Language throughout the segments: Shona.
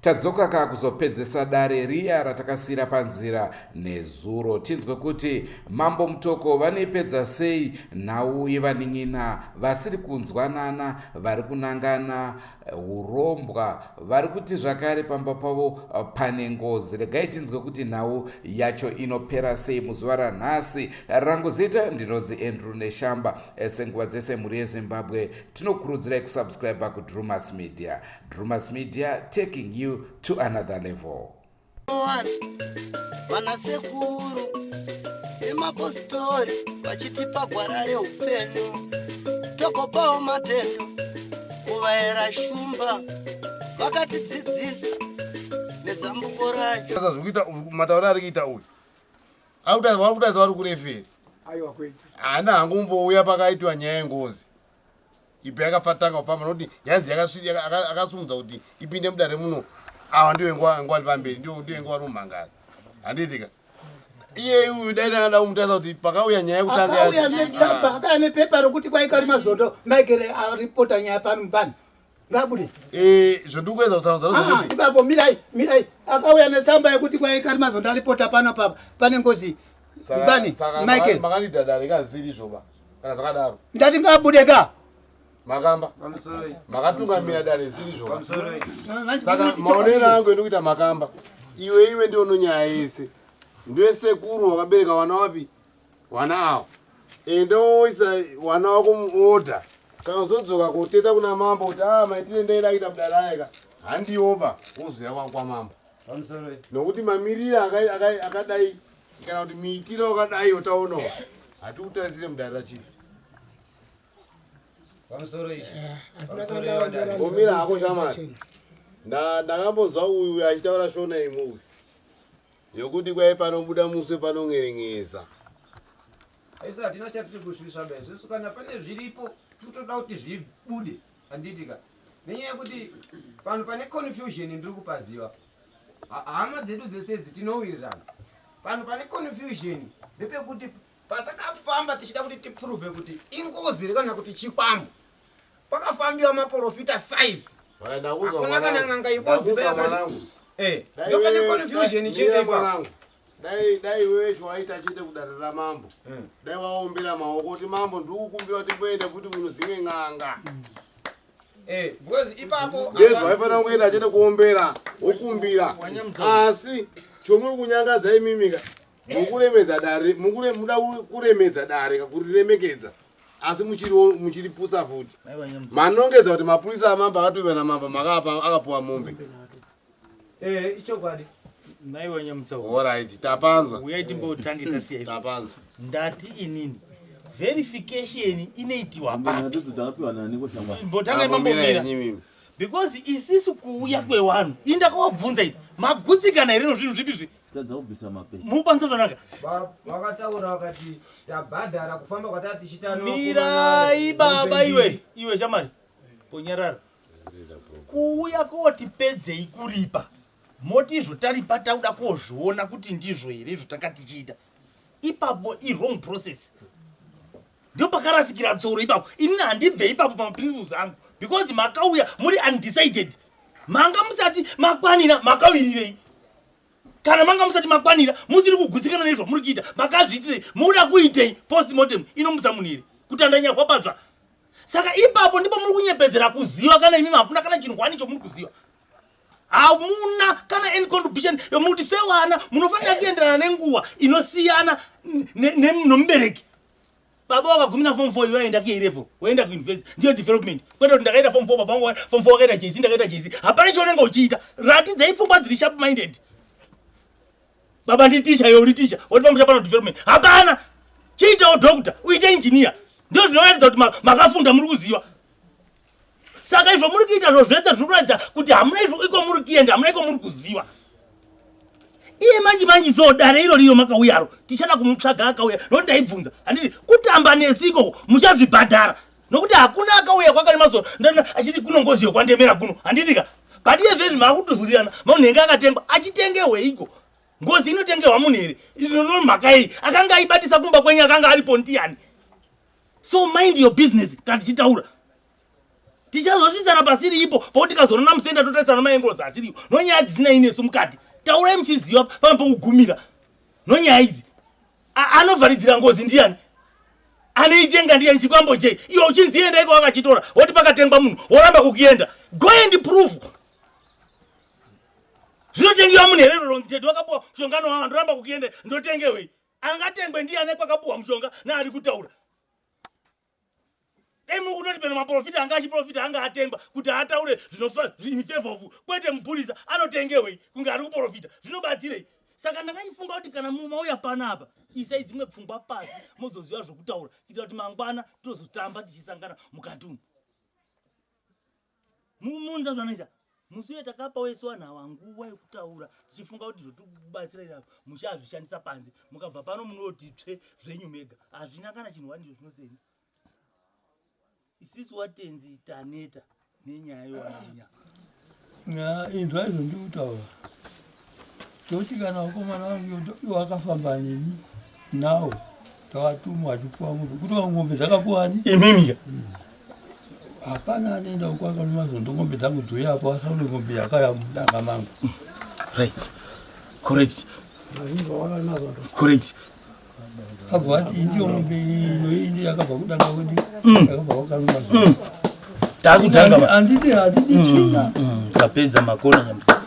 Tadzoka ka kuzopedzesa dare riya ratakasiyira panzira nezuro tinzwe kuti mambo mutoko vanoipedza sei nhau yevanin'ina vasiri kunzwanana vari kunangana urombwa vari kuti zvakare pamba pavo pane ngozi regai tinzwe kuti nhau yacho inopera sei muzuva ranhasi rangu zita ndinonzi andrew neshamba senguva dzese mhuri yezimbabwe tinokurudzirai kusubscribe kudrumas media Drewmas Media taking you to another level. Vana sekuru nemapositori vachitipa gwara reupenyu tokopawo matendo kuvaera shumba vakatidzidzisa nezambuko racho saka zvikuita mataura ari kuita uyu akutaza wakutaza vari kureferi haana hangu umbouya pakaitwa nyaya yengozi ipi yakafatanga kufamba nokuti yanzi akasimudza kuti ipinde mudare muno awa ndiyo inguva vari pamberi ndiyo inguva vari mumhangari handiitika iye uyu dai ndangada kumutasa kuti pakauya nyaya yekutangaauya netsamba akauya nepepa rokuti kwaika rimazondo maigere aripota nyaya pano pano ngabude eh zvandiri kuedza kutsanangudzana ah, zvekuti ibabo mirai mirai akauya netsamba yekuti kwai kari mazondo aripota pano papa pane ngozi bani michael makandidada rekaziri zvoba kana zvakadaro ndati ngabude ka makamba makatungamira dare ziri zvoba saka maonero angu endi kuita makamba iwe iwe ndiono nyaya yese ndiwe sekuru wakabereka wana wapi Wana awo. Enda woisa wana wako muorder. Kana uzodzoka koteta kuna mambo kuti ah maitire ndaida kuita budaraika. Handioba wozoya wakwa mambo. Pamusoro. Nokuti mamirira akadai kana kuti miitiro akadai yotaonawo. Hatikutarisire mudara chief. Pamusoro ichi. Eh, Omira hako shamari. Ndakambonzwa uyu achitaura shona imuyu. Yokuti kwaye panobuda muswe panon'eren'edza. Isu hatina chatiri kusvisa ba isusu kana pane zviripo tikutoda kuti zvibude handiti ka nenyaya yekuti panhu pane confusion ndiri kupaziva Ha- hama dzedu dzese idzi tinowirirana panhu pane confusion ndepekuti Patakafamba tichida kuti tiprove kuti ingozi here kana kuti chikwambo, pakafambiwa maporofita 5 hakuna kana n'anga ibodzi eh, ndoka neconfusion chete ipapo dai dai wewe chiwaita chete kudare ramambo eh. dai waombera maoko kuti mambo ndikukumbira kuti mboenda kuti kuno dzimwe n'anga mm. eh, because ipapo yes waifanira kungoenda chete kuombera wokumbira asi chomuri kunyangadza imimika mukuremedza dare mukure muda kuremedza dare kakuriremekedza asi muchiripusa futi manongedza kuti mapurisa amambo akatove namambo makaapa akapuwa mombe eh, ichokwadi maiwa nyamutsaorit tapanzwa uyai timbotange tasiya tapanzwa ndati inini verification inoitiwa papi mbotangai mambomira because isisu kuuya kwewanhu indakawabvunza ii magutsikana here nozvinhu zvipi zvi tadza kubvisa mapepa mupanze zvanaka vakataura vakati tabhadhara kufamba kwatati tichita mirai baba iwe iwe shamari ponyarara kuuya koti pedzei kuripa moti izvo taripa tauda kozviona kuti ndizvo here izvo tanga tichiita ipapo iwrong process ndio pakarasikira tsoro ipapo ini handibve ipapo pamaprinciples angu because makauya muri undecided manga musati makwanira makauyirirei kana manga musati makwanira musiri kugutsikana nezvo muri kuita makazviitirei mukuda kuitei post mortem inomusa munhu here kuti andanyarwa patsva saka ipapo ndipo muri kunyepedzera kuziva kana imimi hamuna kana chinhu hwani chomuri kuziva hamuna kana any contribution yomuti sewana munofanira kuenderana nenguva inosiyana nomubereki baba wakagumina form 4 iwe waenda ku A level waenda ku university ndiyo development kwete kuti ndakaita form 4 baba wangu form 4 wakaita JC ndakaita JC hapana chaunenge uchiita ratidzai pfungwa dziri sharp minded baba ndi teacher iwe uri teacher woti pamusha pano development hapana chiitawo doctor uite engineer ndiyo zvinoratidza kuti makafunda muri kuziva saka izvo muri kuita zvo zvese zviri kuratidza kuti hamuna izvo iko muri kuenda hamuna iko muri kuziva iye manje manje so dare iro riro makauyaro tichada kumutsvaga akauya nokuti ndaibvunza handiti kutamba nesi ikoko muchazvibhadhara nokuti hakuna akauya kwakane mazoro ndana achiti kuno ngozi yokwandemera kuno handiti ka but iye zvezvi maakutozwirirana maunhenge akatengwa achitengewe iko ngozi inotengewa munhu here inono mhaka iyi akanga aibatisa kumba kwenyu akanga aripo ndiyani so mind your business kana tichitaura tichazosvitsana pasiri ipo pokuti kazonana musenda totarisana maengorozi asiriyo nonyaya dzisina inesu mukati taurai muchiziva pano pokugumira nonyaya idzi anovharidzira ngozi ndiyani anoitenga ndiyani chikwambo chei iwe uchinzienda iko wakachitora woti pakatengwa munhu woramba kukuenda go and proof zvinotengewa munhu herero ronzi tete wakapuwa mushongano wava ndoramba kukuenda ndotengewei angatengwe ndiye ane kwakapuhwa mushonga naari kutaura emu unoti peno maprofita anga achiprofita anga atengwa kuti ataure zvinofevhovu kwete mupurisa anotengewei kunge ari kuprofita zvinobatsirei saka ndakaifunga kuti kana mauya pana apa isai dzimwe pfungwa pasi mozoziva zvokutaura kuitira kuti mangwana tozotamba tichisangana mukati umu mumunza zvanoisa musi uye takapa wese wanhu awa nguva yekutaura tichifunga kuti zvotibatsira irapo muchazvishandisa panze mukabva pano munoti tsve zvenyu mega hazvina kana chinhu wani izvo zvinosenza isisi watenzi taneta nenyaya yowanaenya inzwa izvo ndikutaura Toti kana vakomana vangu iwo akafamba neni nawo tawatumwa achipuwa mombe kuti mombe dzakapuwani imimika mm. hapana anoenda uko akanomazondo mombe dzangu dzoye apo asaule mombe yakaya mudanga mangu right correct correct agwati ndiyo mombe ino indi yakabva kudanga kwedu mm. yakabva kwakaruma mm. takutanga handidi handidi mm, china tapedza makona nyamsa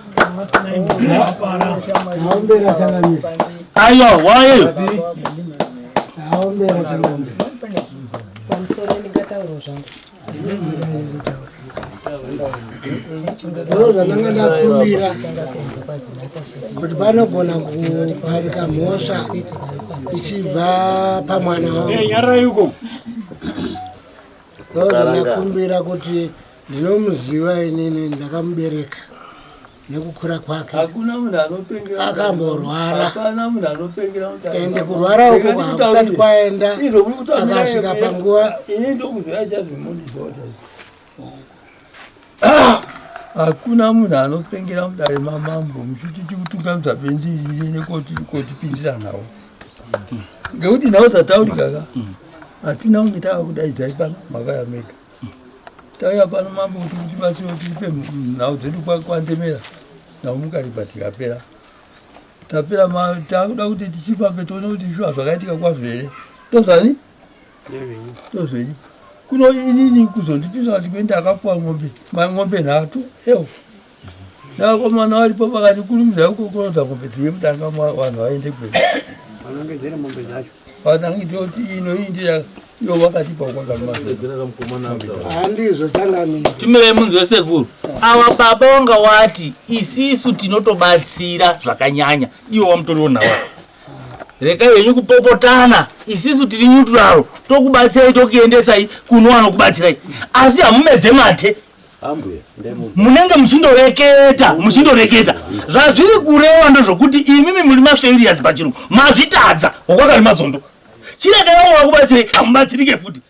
ayo wayeyo aombera tanaombe pamusoro ndingatauro zvangu ndoo zvandanga ndakumbira kuti panogona kuparika mhosva ichibva pamwana wangu ndoo zvandakumbira kuti ndinomuziva inini ndakamubereka nekukura kwake hakuna munhu anopengera akamborwara hapana munhu anopengera ende kurwara uko kwakusati kwaenda akasvika panguva ini ndokuzvira chazvimoni zvota hakuna munhu anopengera mudare mamambo muchiti tikutungamidza bendiriye nekotipindira nhau ngekuti nhau dzataurikaka hatina kunge tava kudaidza ipano makayamega Tauya pano mambo kuti mutibatsire tipe nhau dzedu kwandemera nhau mukaripa tikapera tapera takuda kuti tichifambe tione kuti shuwa zvakaitika kwazvo here tozvani tozvenyi kuno inini kuzondipisa kuti kuenda akapuwa ng'ombe mang'ombe nhatu ewo Navakomana varipo pakati kurumidza kukokorodza mombe dziri mudanga vanhu vaende kwedu. Vanenge dziri mombe dzacho. Vatangi toti ino iyi ndiya iyo vakatipa kwakaandizvo changamira. Timirei munzwe sekuru. Ava baba wanga wati isisu tinotobatsira zvakanyanya iwo wamutoriwo nawa. Reka yenyu kupopotana isisu tiri nyuturaro tokubatsirai tokuendesai kuno anokubatsirai asi hamumedze mate munenge muchindoreketa muchindoreketa zvazviri kureva ndozvokuti imimi muri mafailures pachirungu mazvitadza hokwakari mazondo chiregai vamwe vakubatsirei hamubatsirike futi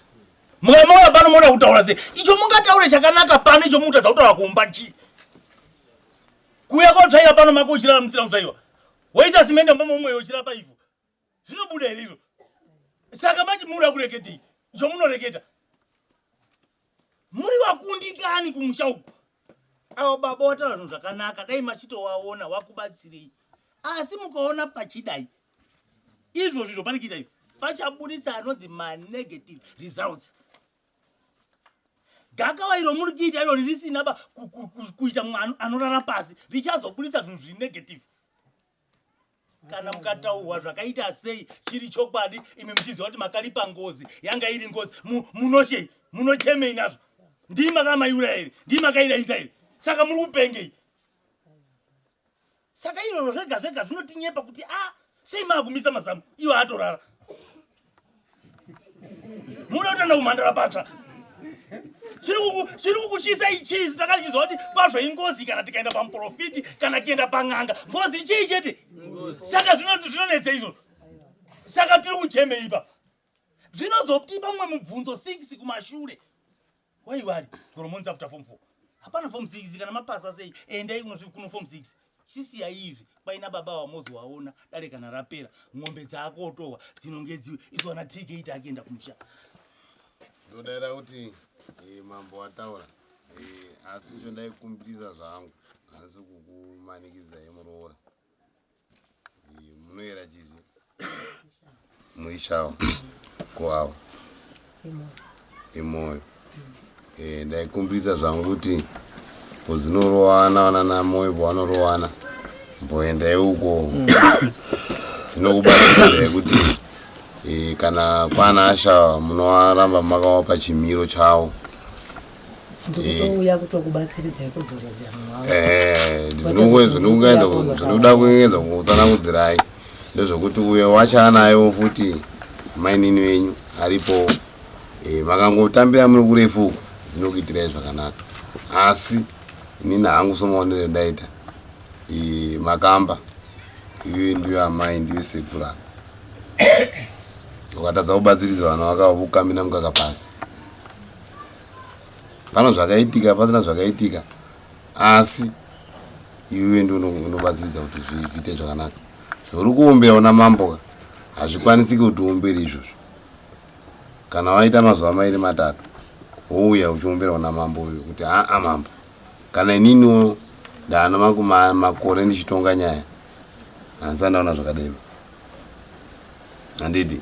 mukamaura pano moda kutaura se icho mungataure chakanaka pano icho mukutadza kutaura kumba chii kuuya kotsvaira pano mako uchirara musina kutsvaiwa woita simende mbama umweyo uchirapa ivhu zvinobuda here izvo saka manje munoda kureketei zvomunoreketa muri vakundikani kumusha uku avo baba wataura zvinhu zvakanaka dai machitowaona wakubatsirei asi mukaona pachidai izvo zvizvo pane chiita izvo pachaburitsa anonzi manegative results gakava iro muri kuita iro ririsinaba kuita munhu anorara pasi richazoburitsa zvinhu zviri negative kana mukataurwa zvakaita sei chiri chokwadi imi muchiziva kuti makaripa ngozi yanga iri ngozi munochei munochemei nazvo ndii makamaiura here ndii makairaisa here saka muri kupengei saka iroro zvega zvega zvinotinyepa kuti a ah, sei maakumisa mazamu iwo atorara muda kutenda kumhandara patsva chiri kukuchisa ichii takatichiziva kuti kwazvo ingozi kana tikaenda pamuprofiti kana kuenda pan'anga ngozi ichii chete saka zvinonetsa izvozvo saka tiri kuchemeipa zvinozotipa mumwe mubvunzo 6 kumashure Why worry? Chikoro monzi after form 4. Hapana form 6 kana mapasa sei? Endai kunosvika kuno form 6. Chisiya izvi paina baba wamozi waona dare kana rapera ng'ombe dzako otohwa dzinonge dziwe isu ana tk ita akienda kumusha. Ndodaira kuti eh, mambo wataura eh, asi zvondaikumbirisa zvangu hanisi kukumanikidzai muroora. munoyera chizi muishawo kuawa imoyo eh, ndaikumbirisa zvangu kuti pozinorowana vana namoyo pavanorowana mboendai uko mm. tinokubatsira yekuti eh, kana kwana asha munowaramba makawapa chimiro chawo ndikutouya kutokubatsiridzai kudzoredza mwavandokuenda zvandikuda kuengedza kutsanangudzirai ndezvekuti uyo wachaa nayo futi mainini venyu aripo eh, makangotambira muri kurefu uku ndinokuitirai zvakanaka asi inini hangu somaonere ndaita eh, makamba iwe ndiyo amai ndiwe sekura ukatadza kubatsiridza vana vakavo kukamina mukaka pasi pano zvakaitika pasina zvakaitika asi iwe ndi unobatsiridza kuti zviite zvakanaka zvauri kuombera una mamboka hazvikwanisiki kuti uombere izvozvo kana waita mazuva mairi matatu wouya uchiombera una mambo uyo kuti aa mambo kana ininiwo ndaana makore ndichitonga nyaya handisa ndaona zvakadero handidi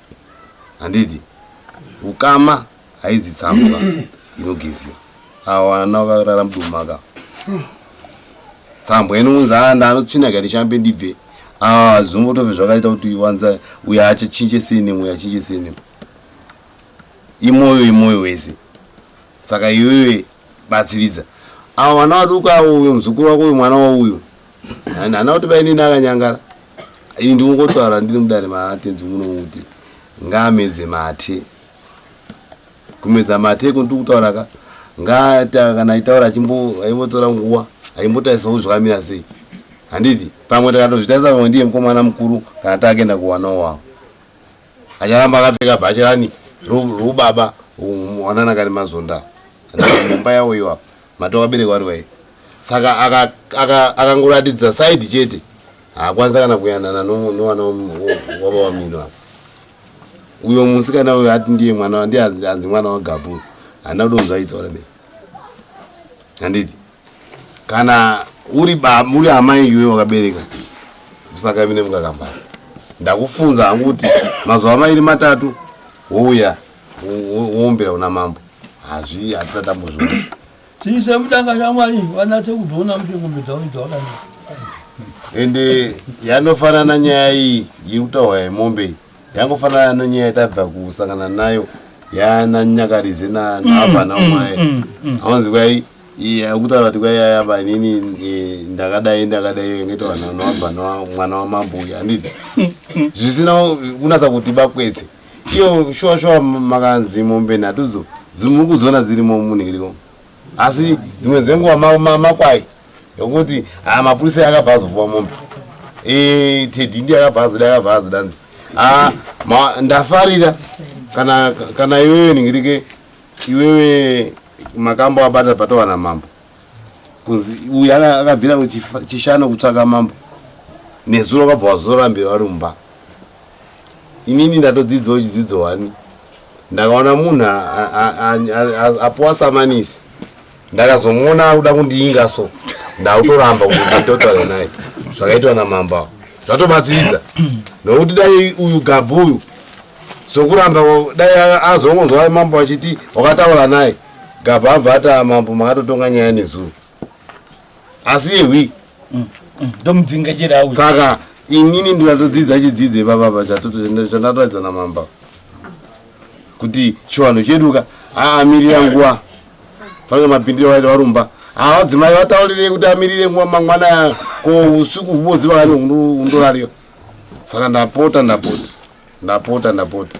handiti ukama haidzi tsamba inogeziwa ava vana vakarara mudumaka tsambwa inounza anda anotsvina kati chambe ndibve ava zvombotove zvakaita kuti wanza uyo achachinje senem uyo achinje senem imoyo imoyo wese saka iwewe batsiridza ava vana vaduka uyo muzukuru wako uyo mwana wauyo And ana kuti bainini akanyangara. Iyi ndikungotwara ndiri mudare matenzi muno kuti ngaamedze mate. Kumedza mate ko ndiri kutaura ka ngaata kana aitaura achimbo aivotora nguwa aimbotaisa kuzvamira sei. Handiti pamwe takatozvitaisa pamwe ndiye mukomana mukuru kana taakenda kuwanawo wavo. Acharamba akapfeka bhachi rani rubaba wanana kari mazonda. Mumba yawo iwapo. Matoko aberekwa ari wai. Saka akangoratidza side chete. Haakwanisa kana kuyanana nowana waba wamino apa. Uyo musikana uyo ati ndiye mwana ndiye anzi mwana wagabu. Hana kudo kunzwa itaura be. Handiti. Kana uri ba muri amai iwe wakabereka. Kusaka mine mukakambasa. Ndakufunza hangu kuti mazuva mairi matatu wouya. woombera una mambo hazvi hatisati tambozviona chii sekutanga shamwari vanatse kuzoona kuti ngombe dzavo idzawakanaka ende yanofanana nyaya iyi iri kutaurwa yemombe iyi yangofanana nonyaya tabva kusangana nayo yana nyakarize naavana mm, mm, mwaye mm, aonzi kwai akutaura kuti kwai yayaba inini e, ndakadai ndakadai ingetaura navana mwana wamambo uyu handiti zvisina kunatsa kuti bakwese iyo shuwa shuwa makanzi mombe nhatudzo dzimukudzoona dzirimo munhiriko asi dzimwe dzenguva makwai yokuti haa ah, mapurisa akabva azopuwa mombe eh, tedi ndi akabva azoda akabva azodanzi haa ah, ndafarira kana iwewe nhingirike iwewe makambo abata patowana mambo kunzi uyu akabvira kuchishana kutsvaka mambo nezuro vakabva vazorambira vari mumba inini ndatodzidzawo chidzidzo wani ndakaona munhu apuwa samanisi ndakazomuona akuda kundiinga so ndakutoramba kutotare naye zvakaitwa namamba zvatobatsiridza nokuti dai uyu gabhu uyu sokuramba dai azongonzwa mambo achiti wakataura naye Gabha abva ati ah, mambo makatotonga nyaya nezuro asi yehwi mm, mm, ndomudzinga chero awu saka inini ndinatodzidza chidzidze ipapapa chandatoratidza namamba kuti chivanhu chedu ka aamirira nguva fanira mapindiro vaita varumba havadzimai vataurirei kuti amirire nguva mangwana ko usiku hubodzi vakani undorariwa saka ndapota ndapota ndapota ndapota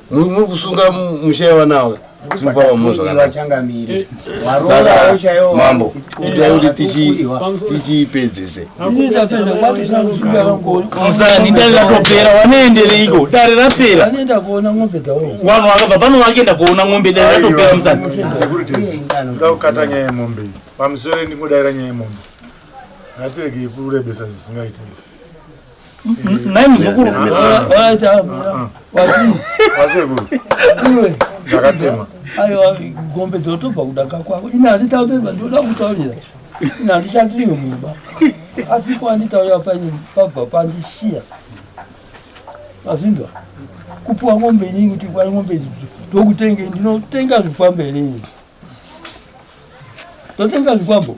muri kusunga musha yevanawe mufava muno zvakanakamambo idai kuti tichipedzese musani dai ratopera wanoendereiko dare rapera vanhu vakabva pano vakenda kuona ng'ombe dai ratopera musani toda kukata nyaya yemombe pamusoro ndingodaira nyaya yemombe ngatiregei kurebesa zvisingaitei Nai muzukuru. Wasekuru. Ndakatema. Aiwa gombe dzotobva kudaka kwako. Ina handitaure baba ndoda kutaurira. Ina handichatiri mumba. Asi kwa nditaurira paine pabva pandishiya. Azvinzwa. Kupuwa ngombe inini kuti kwa ngombe idzi ndokutenge ndinotenga zvikwambo here ini. Ndotenga zvikwambo.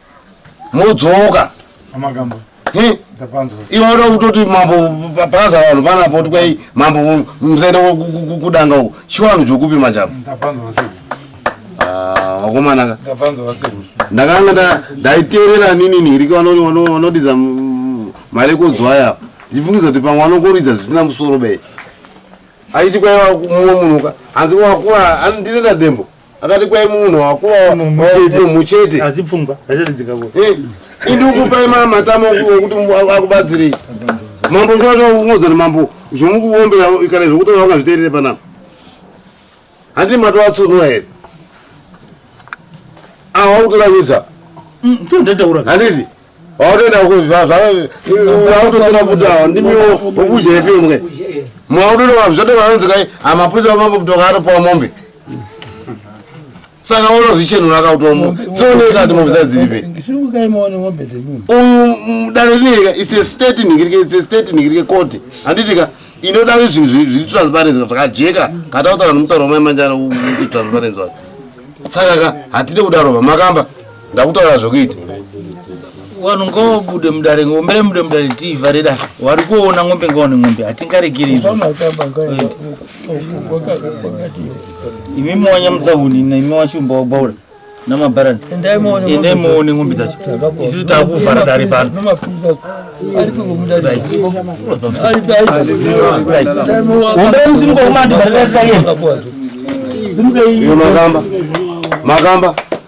modzoka Amagambo. He? Ndapanzwa. iwe uda kutoti mambo bhaza vanhu panapo kuti kwai mambo mzenda kudanga uko chiwanu chokupi machapo Ndapanzwa sei? Ah, wakomana ka Ndapanzwa sei? ndakanga nda- ndaiteerera nini niriki vano- vano- vanodidza mm, mari ekudzwa aya ndifungiza kuti pamwe vanongoridza zvisina musoro bei aiti kwaiva mumwe munhu ka hanzi wakura andirera dembo akati kwai munhu wakuva munhu chete asi pfungwa achatidzikako eh, indi ukupai ma matama okuti akubatsirei mambo zvaungodzana mambo zvomukuombera ikare zvokuti vakazviteerere panapa handi matovatsunura here awa kutoravisa mm, handiti Wautoenda uko zvautotora futi awo ndimiwo ukudya ife imwe. Mwautoenda vanhu zvatoka vanonzi kai amapurisa vamambo kutoka atopawa mombe. Saka unozvichenura akautwa mombe. Sioneka kuti mombe dzadziripe. Uyu dare rineka it's a state nigirike it's a state nigirike court. Handitika inoda zvinhu zviri transparency zvakajeka kata kutaura nomutauro wamai manjana transparency wacho. Saka ka hatide kudarova makamba. ndakutaura zvokuita vanhu ngobude mudare ngombere mude mudare tivhare dare wari kuona ngombe ngaone ngombe hatingaregeri imi mowanyamudza hunina imi wachumba wagwaura namabharani endai moone ngombe dzacho isusu takuvhara dare pano umbere musimuka umandi vhare dare taienda simuka iyi makamba makamba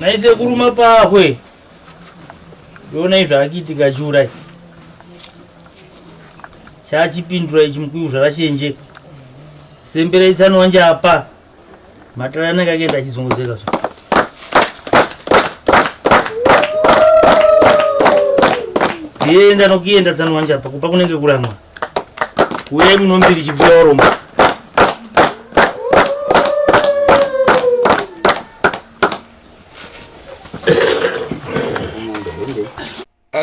naise kuruma pahwe ndoona izvo akiitika chiurai chachipindura ichi mukuyu zvakachenjeka semberai tsano wanje apa matara anenge akaenda achidzongozeka zva zienda nokuenda tsano wanje apa kupa kunenge kuramwa uyai munombiri chibvuya warombo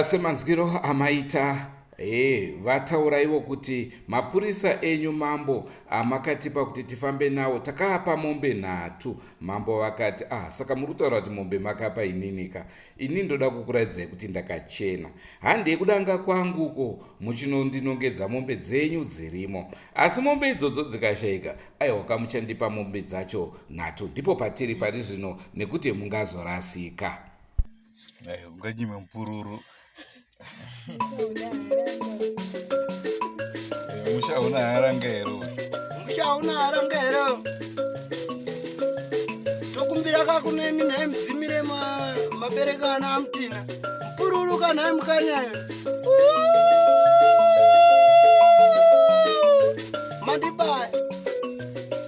semanzwiro amaita e vataura ivo kuti mapurisa enyu mambo amakatipa kuti tifambe nawo takaapa mombe nhatu mambo vakati ah saka muri kutaura kuti mombe makapa ininika ini ndoda kukuraidzai kuti ndakachena handei kudanga kwangu uko muchinondinongedza mombe dzenyu dzirimo asi mombe idzodzo dzikashaika aiwa kamuchandipa mombe dzacho nhatu ndipo patiri pari zvino nekuti mungazorasika unganyime mupururu musha una haranga here musha una haranga here tokumbira kakunemi nhai mudzimire mabereka ana amutina mupururuka nhai mukanyayo mandibaya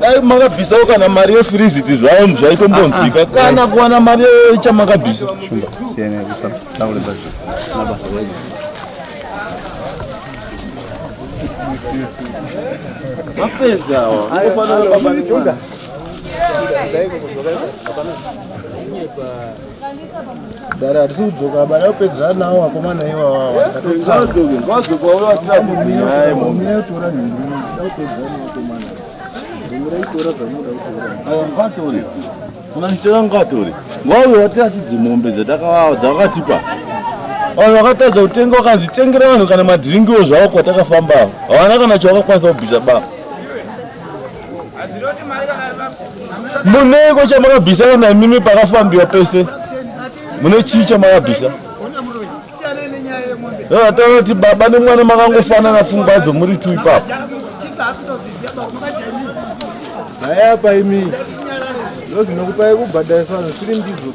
dai makabvisawo kana mari yefiriziti zvayo zvaitombonzwika ah, ah. kana kuwana mari yechamakabvisa mapedza Dare hatisi kudzoka bada kupedzera nawo vakomana iwawawa unanditora ngatori ngauyo watiratidzi mombe dzatakavawa dzakatipa vanhu vakatadza kutenga vakanzi tengera vanhu kana madhiringiwo zvavo kwatakafamba havana kana chavakakwanisa kubvisa basa Muneko chamakabvisa kana imimi pakafambiwa pese mune chii chamakabvisa ataona kuti baba nemwana makangofanana pfungwa dzo muri tu ipapo haya apa imi ndozvinokupai kubhadharisa zviri ndizvo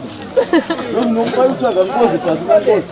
ndozvinokupai kutsvaga ngozi pasi pangozi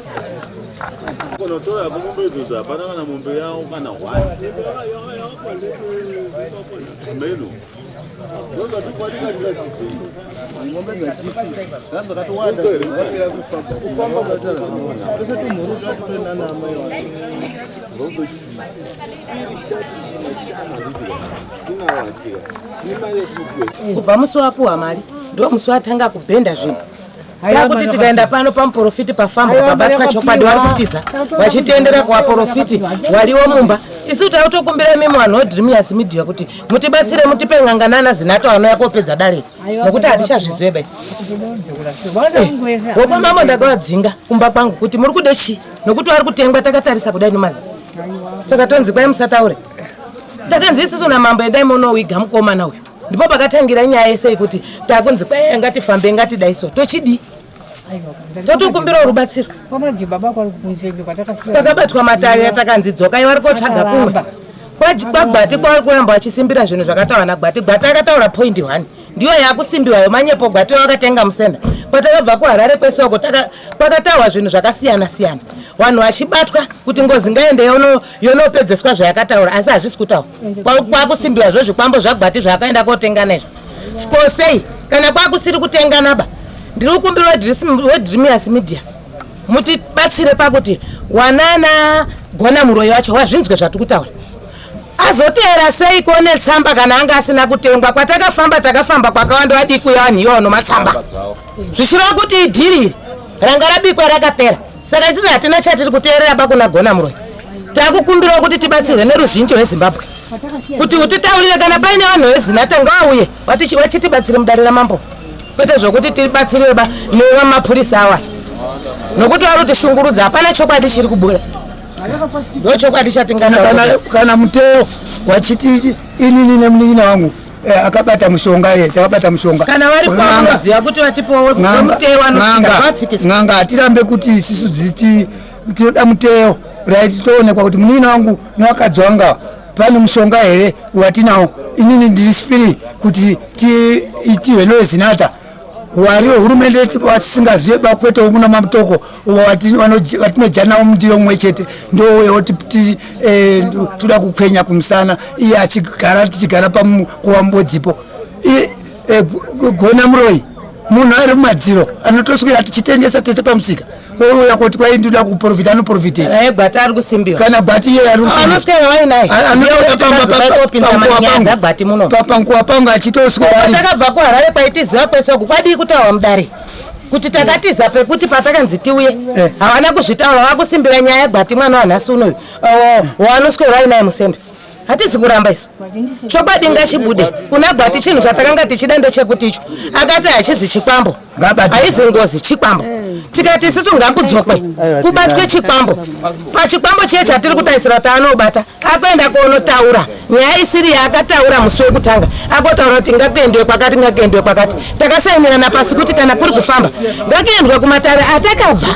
Kunotora kumombe idzodzi hapana kana mombe yawo kana hwai meno ngombe dzachisi zvanzi akatowanda kubva musi wapuwa mari ndo musi watanga kubhenda zvinhu takuti tikaenda pano pamuporofiti pafamba pabatwa chokwadi wari kutiza vachitendera kuvaporofiti waliwo mumba isu tava kutokumbira imimi vanhu wedreamius media kuti mutibatsire mutipe ng'anga nana zinato anouya kopedza dare nokuti hatichazvizoeba isu wokwa eh, mambo ndakavadzinga kumba kwangu kuti muri kude chii nokuti wari kutengwa takatarisa kudai nemaziso saka tonzi kwai musataure takanzi isisu namambo endai monowiga mukomana uyu ndipo pakatangira nyaya yese yekuti takunzi kwaiya ngatifambe ngatidai so tochidii totokumbirawo rubatsiro pakabatwa matavi atakanzi dzokai vari kotsvaga kumwe kwagwati kwavari kuramba vachisimbira zvinhu zvakataura nagwati gwati akataura point one ndiyo yakusimbiwayo manyepo gwati wakatenga musenda kwatakabva kuharare kwesoko kwakataurwa zvinhu zvakasiyana siyana vanhu vachibatwa kuti ngozi ngaende yonopedzeswa zvayakataura asi hazvisi kutaura kwakusimbiwa zvo zvikwambo zvagwati zvaakaenda kotengana izvo skosei kana kwakusiri kutengana ba ndiri kukumbira wedrimius media mutibatsire pakuti wanana gona muroyi wacho wazvinzwe zvatiri kutaura azoteera sei kuone tsamba kana anga asina kutengwa kwatakafamba takafamba kwakawanda vadikuya vanhu iwano matsamba zvichireva kuti idhiri ranga rabikwa rakapera saka isisi hatina chatiri kuteerera bakuna gona muroyi takukumbirawo kuti tibatsirwe neruzhinji rwezimbabwe kuti utitaurire kana paine vanhu vezinata ngavauye vachitibatsire mudare ramambo kwete zvokuti tibatsiriwe ba newa mapurisa awa nokuti vari kutishungurudza hapana chokwadi chiri kubuda ndochokwadi chatingaaa kana muteo wachiti inini nemunin'ina wangu Eh, akabata mushonga iye akabata mushonga kana vari kwavanoziva kuti vatipowo muteo wanoanga hatirambe kuti isisu dziti tinoda muteo right toonekwa kuti munini wangu newakadzi wanga pane mushonga here watinawo inini ndiri free kuti tiitihwe noezinata wari wehurumende yedu watisingazive bakwete womuna mamutoko watinojanawo mundiro mumwe chete ndowewo titi eh, toda kukwenya kumusana iye achigara tichigara pakuva mubodzipo eh, gona muroyi munhu ari mumadziro anotoswera tichitengesa tese pamusika ouya koti kwai ndinoda kuprofita anoprofitei eh, gwati ari kusimbiwa kana gwati iye ari kusimbiwaanoswera wai naye anoapanguwa pangu achitoswatakabva kuharare kwaitiziva kwese ku kwadii kutaurwa mudare kuti takatiza pekuti patakanzi tiuye eh. havana kuzvitaura vakusimbira nyaya yegwati mwana wanhasi unoyu waanoswera wai naye musembe hatizi kuramba isu chokwadi ngachibude kuna gwati chinhu chatakanga tichida ndechekuti icho akati hachizi chikwambo haizi ngozi chikwambo tikati isisu ngakudzokwe kubatwe chikwambo pachikwambo chiye chatiri kutarisira kuti anobata akuenda kuonotaura nyaya isiri yaakataura musi wekutanga akotaura kuti ngakuendwe kwakati ngakuendwe kwakati takasainirana pasi kuti kana kuri kufamba ngakuendwe kumatare atakabva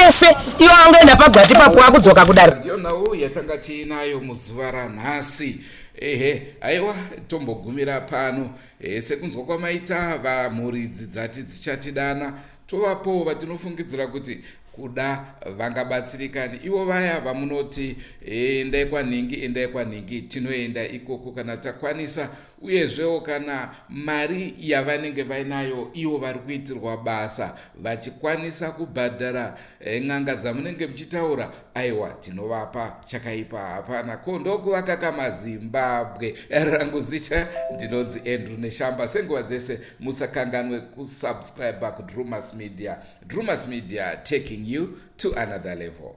ese iwo angoenda pagwati papo wakudzoka kudaro ndiyo nhau yatanga tiinayo muzuva ranhasi ehe aiwa tombogumira pano e, sekunzwa kwamaita vamhuridzi dzati dzichatidana tovapowo vatinofungidzira kuti kuda vangabatsirikani ivo vaya vamunoti eh, endai kwanhingi endai kwanhingi tinoenda ikoko kana takwanisa uyezvewo kana mari yavanenge vainayo ivo vari kuitirwa basa vachikwanisa kubhadhara Eh, n'anga dzamunenge muchitaura aiwa tinovapa chakaipa hapana ko ndokuvaka kamazimbabwe eh, rangu zita ndinonzi andrew neshamba senguva dzese musakanganwe kusubscribe kudrumas media drumas media taking you to another level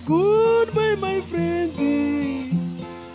Goodbye, my friends.